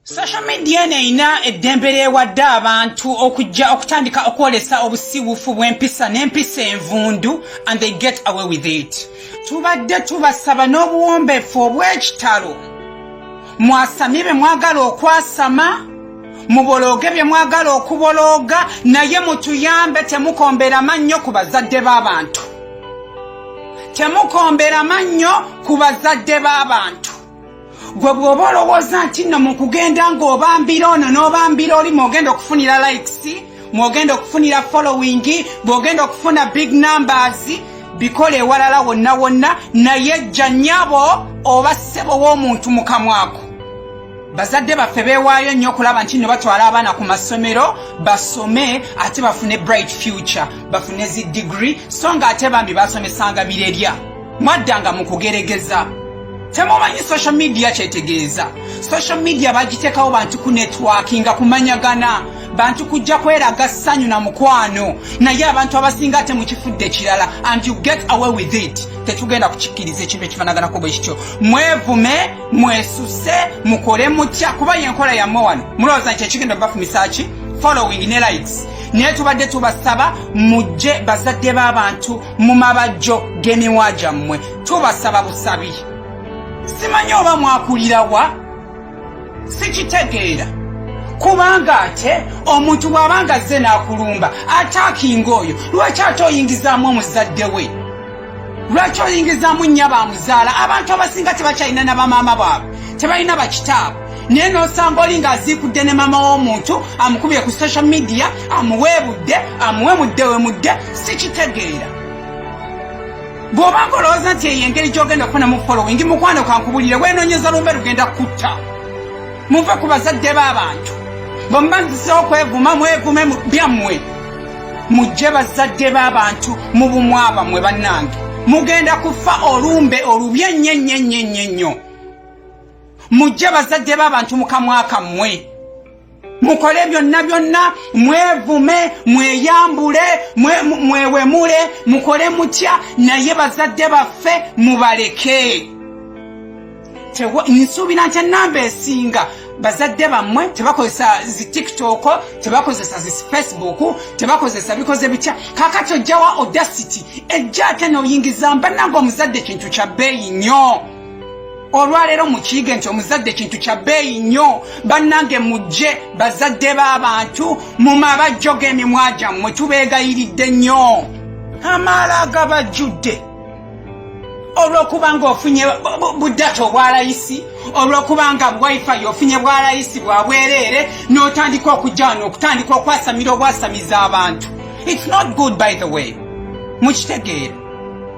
social media eno erina eddembe lyewadde abantu okujja okutandika okwolesa obusiwufu bw'empisa n'empisa envundu and they get away with it tubadde tubasaba n'obuwombeefu obw'ekitalo mwasamye be mwagala okwasama mubolooge bye mwagala okubolooga naye mutuyambe temukombera mannyo ku bazadde b'abantu temukombera mannyo ku bazadde b'abantu gwe bw'oba olowooza nti nno mu kugenda ng'obambira ono n'obambira oli mwogenda okufunira likes mwogenda okufunira following bw'ogenda okufuna big numbers bikola ewalala wonna wonna naye jja nnyabo oba ssebo w'omuntu mukamwako bazadde baffe beewaayo nnyo okulaba nti no batwala abaana ku masomero basome ate bafune bright future bafune zi digiri so nga ate bambi basomesanga birerya mwaddanga mu kugeregeza temumanyi social media kyetegeeza social media bagiteekawo bantu ku netwakinga kumanyagana bantu kujja kweraga ssanyu na mukwano naye abantu abasinga ate mukifudde kirala and you get away with it tetugenda kukikkiriza ekintu ekifanaganako bwe kityo mwevume mwesuse mukole mutya kuba yenkola yammwe wano mulowooza nti ekigenda obafumisa ki following ne likes naye tubadde tubasaba mujje bazadde b'abantu mu mabajjo g'emiwa gyammwe tubasaba busabi simanyi oba mwakulirawa sikitegeera kubanga ate omuntu bw'abanga azze n'akulumba ataakinga oyo lwaki ate oyingizaamu omuzadde we lwaki oyingizaamu nnya ba muzaala abantu abasinga tebakyalina na bamaama baabwe tebalina bakitaabwe naye nosanga oli ng'aziikudde ne maama w'omuntu amukubye ku social media amuweebudde amuwe mudde we mudde sikitegeera bw'oba ng'olowooza nti eyo engeri gy'ogenda okufuna mu following mukwano kankubulire weenonyeza lumbe lugenda kutta muve ku bazadde b'abantu bwe mubanzizeho okwevuma mwevume byammwe mujje bazadde b'abantu mu bumwaba mwe bannange mugenda kufa olumbe olubi ennyo ennyo ennyo ennyo ennyo mujje bazadde b'abantu mu kamwa kammwe mukole byonna byonna mwevume mweyambule mwewemule mukole mutya naye bazadde baffe mubaleke nsuubira nti enamba esinga bazadde bammwe tebakozesa zi tiktok tebakozesa zi facebook tebakozesa bikoze bitya kakati ojjawa odasity ejja ate noyingiza mbananga omuzadde kintu kya bbeeyi nnyo olwaleero mukiige nti omuzadde kintu kya bbeeyi nnyo bannange mujje bazadde b'abantu mu mabajjo g'emimwa gyammwe tubeegayiridde nnyo amaala agabajjudde olwokuba nga ofunye budata obwalayisi olwokuba nga wifi ofunye bwalayisi bwabwereere n'otandika okujana okutandika okwasamira obwasamiza abantu its not good by the way mukitegeera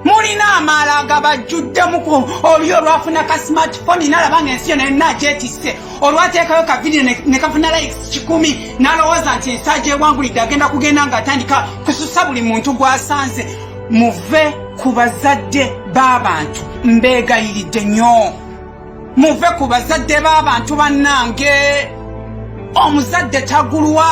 mulina amaala nga bajjuddemu ku oli olwafuna ka smartphone nalaba nga ensi yona yonna agyetisse olwateekayo ka vidiyo ne kafuna likes kikumi nalowooza nti ensi agyewangulidde agenda kugenda ng'atandika kususa buli muntu gw'asanze muve ku bazadde b'abantu mbeegayiridde nnyo muve ku bazadde b'abantu bannange omuzadde tagulwa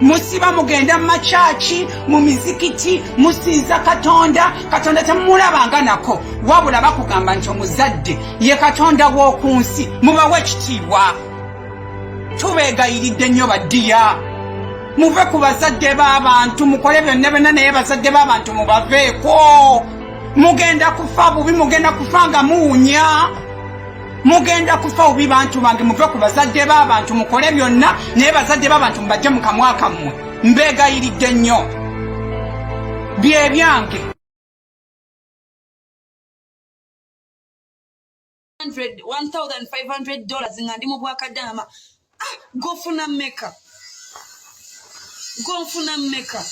musiba mugenda mu makyaki mu mizikiti musinza katonda katonda temumulabanga nako wabula bakugamba nti omuzadde ye katonda w'oku nsi mubawe ekitiibwa tubeegayiridde nnyo baddiya muve ku bazadde b'abantu mukole byonna byonna naye bazadde b'abantu mubaveeko mugenda kufa bubi mugenda kufa nga muwunya mugenda kufa bubi bantu bange muve ku bazadde b'abantu mukole byonna naye bazadde b'abantu mubajje mu kamwa kammwe mbeegayiridde nnyo byebyange 1500 dollars nga ndi mu bwakadaama ah, gofuna meka gofuna meka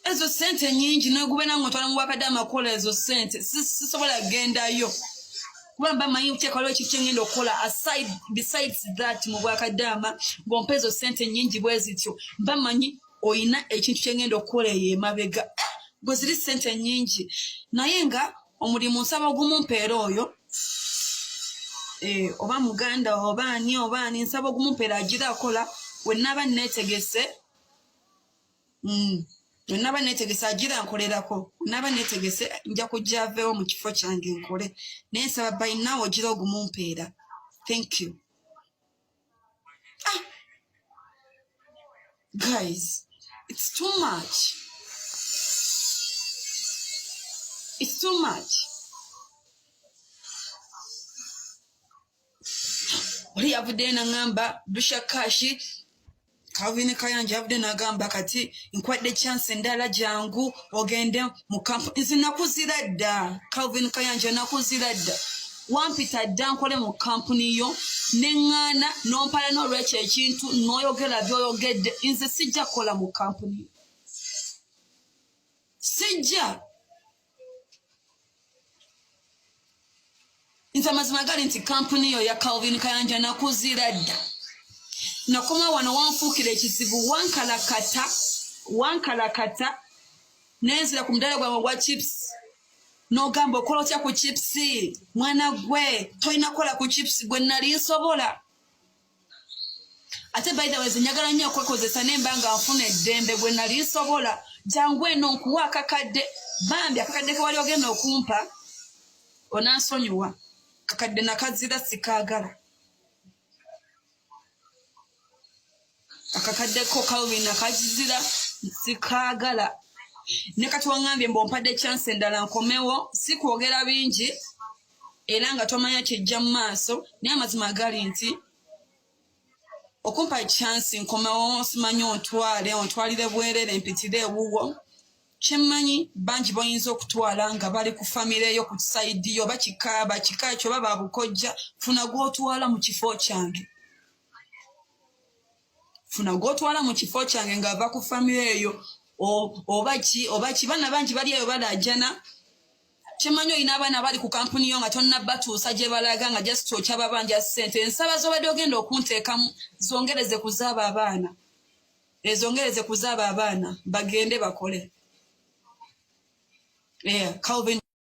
ezo sente nyingi nogubena nga otwala mu bwakadaama kukola ezo sente sisobola gendayo kuba mba manyi kuteekalo ekyo kyengenda okukola aside besides that mu bwakadaama ngompa ezo sente nyingi bwezityo mba manyi oyina ekintu kyengenda okukola eyo emabega gwe ziri sente nyingi naye nga omulimu nsaba ogumumpeera oyo eh, oba muganda oba ani oba ani nsaba ogumumpeera agira akola wenaba netegese mm. naba netegese agira nkolerako naba netegese nja kujja avewo mu kifo kyange nkole naye nsaba bayinawo ogira ogumumpeera thank you ah. guys it's too much it's too much oli yavuddeyo nangamba dusha kashi Calvin Kayanja yabadde nagamba kati nkwadde chance endala jangu ogende mu kampu nzi nakuzira dda Calvin Kayanja nakuzira dda wampita dda nkole mu kampuni yo neŋŋaana nompala n'olwekyo ekintu noyogera byoyogedde nze sijja kukola mu kampuni yo sijja nze amazima gali nti kampuni yo ya calvin kayanja nakuzira dda nakoma wano wanfuukira ekizibu wankalakata wankalakata nenzira ku mudala gwange ogwa chips nogamba okola otya ku chips mwana gwe tolina kukola ku chips gwe nali nsobola ate by the way zinyagala nnyo okwekozesa nemba nga nfuna eddembe gwe nali nsobola jangu eno nkuwa akakadde bambi akakadde kewali ogenda okumpa onansonyiwa kakadde nakazira sikaagala akakadde ko kalwin nakazizira sikaagala ne kati wangambye mbu ompadde chance endala nkomewo sikwogera bingi era nga tomanya kijja mu maaso naye amazima agali nti okumpa ekyansi nkomewo simanyi ontwale ontwalire bwerere mpitire ewuwo kyemmanyi bangi boyinza okutwala nga bali ku famire yo ku saidi yo bakika bakika ekyo baba bukojja funa gwotwala mu kifo kyange funa gwotwala mu kifo kyange ng'ava ku famiry eyo oba ki oba ki baana bangi bali eyo balaajana kyemanyi olina abaana bali ku kampuni yo nga tonna batuusa gye balaga nga just okyababanja ssente ensaba zobadde ogenda okunteekamu zongereze kuzaaba abaana ezongereze kuzaaba abaana bagende bakole yeah, calvin